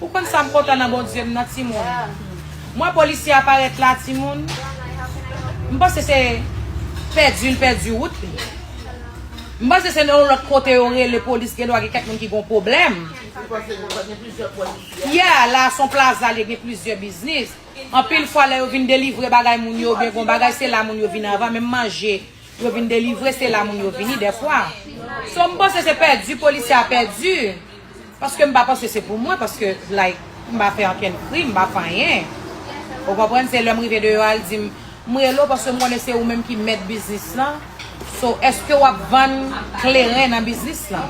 Ou konn sam kontan nan Bondye m nan timoun m wè polisye a parèt la timoun m panse se pèdi l pèdi wout li m panse se nan yon lòt kote yo rele polis gen dwa gen kèk moun ki gon pwoblèm yè a la son plaza li gen plizyè biznis anpil fwa lè yo vin delivre bagay moun yo oubyen gon bagay se la moun yo vin anvan menm manje. Yo vin delivre se la moun yo vini dèfwa so m panse se pèdi polisye a pèdi paske m pa panse se pou mwen paske like m pa fè ankenn krim m pa fè anyen ou konprann se lè m rive deyò a l di m m rele w paske m konnen se ou menm ki mèt biznis lan so èske w ap vann kleren nan biznis lan.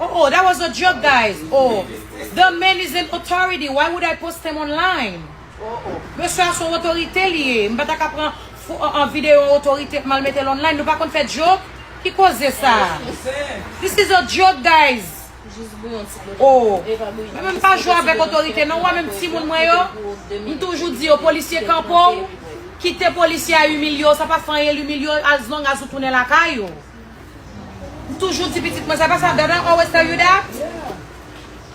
Oh oh that was a joke guys oh the man is an authority why would I post him online oh oh mesye a son otorite li ye m pa ta ka pran video yon otorite mal mete l online nou pa konn fè joke ki koze sa this is a joke guys oh mwen menm m pa jwe avèk otorite non ou wè menm timoun mwen yo m toujou di yo polisye kanpe w kite polisye a imilye w sa pa fè anyen l imilye w as long as ou tounen lakay ou. M toujou di pitit mwen sa pa sa dad I always tell you that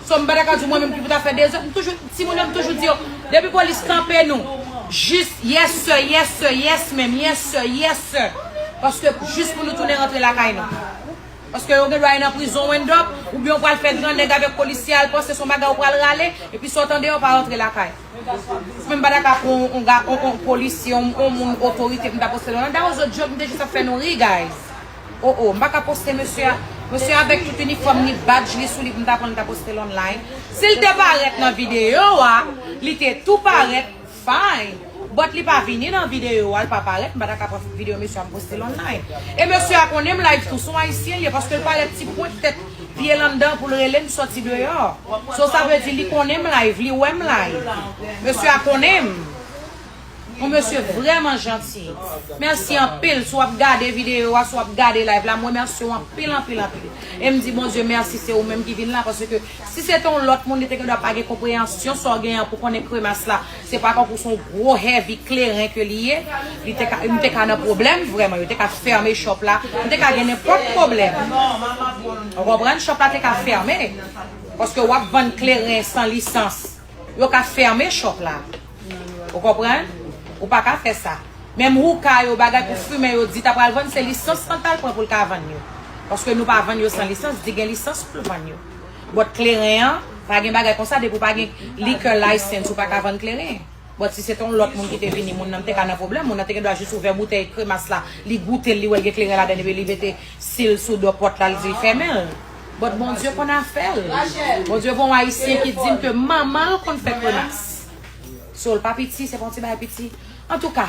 So m pa ta ka di w mwen menm ki pou ta fè de zòt m toujou timoun yo m toujou di yo depi polis kanpe nou jis yes sir yes sir yes ma'am yes sir yes sir paske jis pou nou tounen rantre lakay nou paske yo gen dwa ye nan prizon ou end up oubyen ou pral fè grannèg avèk polisye al panse son bagay ou pral rale epi sa w tande yo pa rantre lakay. Mwen pa ta ka pran on ga on on polisye on on moun otorite pou m ta poste non that was a joke m te jis ap fè nou ri guys oh oh m pa ka poste mesye a mesye a avèk tout inifòm li badj li sou li pou m ta pran l ta poste l online si l te parèt nan videyo a li te tou parèt fine but li pa vini nan videyo a l pa parèt m pa ta ka pran videyo mesye a m poste l online e mesye a konnen m live tou s on ayisyen l ye paske l parèt ti pwent tèt Pyel anndan poul relem soti deyò so sa vle di li konnenm live li wèm live mesye a konnenm ou mesye vrèman janti merci anpil si wap gade video wa si wap gade live la m remerciw anpil anpil anpil em di Bondye merci se ou menm ki vin la paske si se te yon lòt moun li te gendwa pa gen konpreyansyon sa w gen an pou konnen kremas la Se pa tankou son gwo heavy kleren ke li ye, li te ka, nou te ka nan pwoblèm vrèman, yo te ka fèmen shop la, nou te ka gen nenpòt pwoblèm. Ou konprann? Shop la te ka fèmen. Paske wap vann kleren san lisans. Yo ka fèmen shop la. Ou konprann? Ou pa ka fè sa. Menm houka yo, bagay pou fimen yo, di ta pral vann, se lisans lan tal pran poul ka vann yo. Paske nou pa vann yo san lisans, di gen lisans poul vann yo. Bòt kleren an, pa gen bagay konsa depi w pa gen liquor license ou pa ka vann kleren. Bòt si se te yon lòt moun ki te vini moun nan m te ka nan pwoblèm, moun nan te gen dwa jis ouvè boutèy kremas la, li goute l li wè l gen kleren ladan l epi li mete sil sou do pòt la li di l fèmen l. Bòt Bondye konn afè l. Bondye gen yon ayisyen ki di m ke manman l konn fè kremas. So l pa piti, se pa yon ti bagay piti. Antouka.